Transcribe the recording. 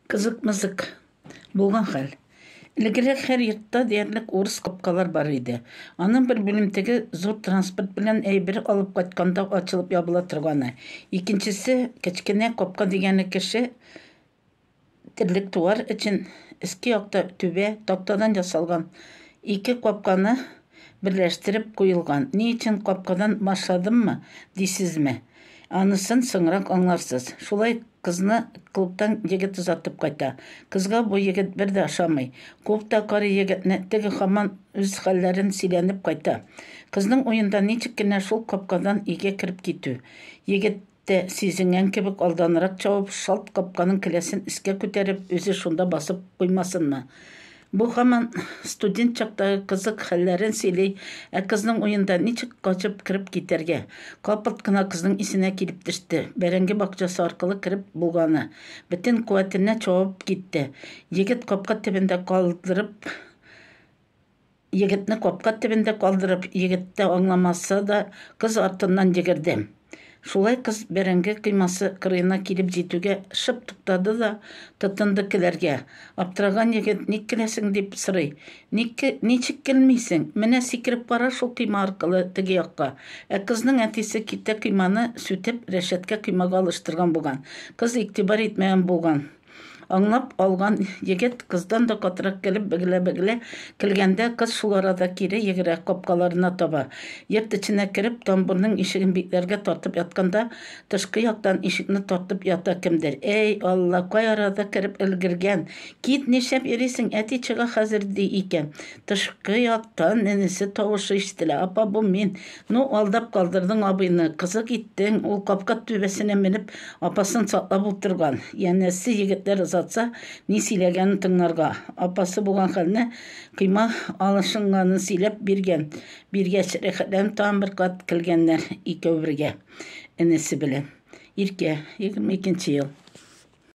Кызык-мызык булган хәл. Элегрәк һәр йортта диярлек урыс капкалар бар иде. Аның бер бүлемтеге зур транспорт белән әйбер алып кайтканда ачылып ябыла торганы. Икенчесе, кечкенә капка дигәне кеше терлек туар өчен иске якта түбә тактадан ясалган ике капканы берләштереп куелган. Ни өчен капкадан башладыммы, дисезме? Анысын соңрак аңларсыз. Шулай Кызны клубтан егет озатып кайта. Кызга бу егет бер дә ошамый. Клубта карый егетне, теге һаман үз хәлләрен сөйләнеп кайта. Кызның уенда ничек кенә шул капкадан өйгә кереп китү. Егет тә, сизенгән кебек, алданрак чабып, шалт капканың келәсен өскә күтәреп, үзе шунда басып куймасынмы. Бу һаман студент чактагы кызык хәлләрен сөйли, ә кызның уенда ничек качып кереп китәргә? Капылт кына кызның исенә килеп төште, бәрәңге бакчасы аркылы кереп булганы. Бөтен куәтенә чабып китте. Егет капка төбендә калдырып Егетне капка төбендә калдырып, егет тә аңламаса да, кыз артыннан йөгерде. Шулай кыз бәрәңге коймасы кырыена килеп җитүгә шып туктады да тотынды көләргә. Аптыраган егет, Ник көләсең? дип сорый. Ник, ничек көлмисең? Менә сикереп кара шул койма аркылы теге якка. Ә кызның әтисе киртә койманы сүтеп, рәшәткә коймага алыштырган булган. Кыз игътибар итмәгән булган. Аңлап алган егет кыздан да катырак килеп бегелә-бегелә килгәндә, кыз шул арада кире йөгерә, капкаларына таба. Йорт эченә кереп, тамбурның ишеген бикләргә тартып ятканда, тышкы яктан ишекне тартып ята кемдер. Әй, Алла, кай арада кереп өлгергән! Кит, нишләп йөрисең, әти чыга хәзер, ди икән. Тышкы яктан энесе тавышы ишетелә, Апа, бу мин! Ну, алдап калдырдың абыйны, кызык иттең, ул капка түбәсенә менеп, апасын саклап утырган. Янәсе, егетләр озатса, ни сөйләгәнен тыңларга. Апасы булган хәлне, койма алышынганын сөйләп биргән. Биргәч, рәхәтләнеп тагын бер кат килгәннәр икәү бергә энесе белән. Иркә, егерме икенче ел.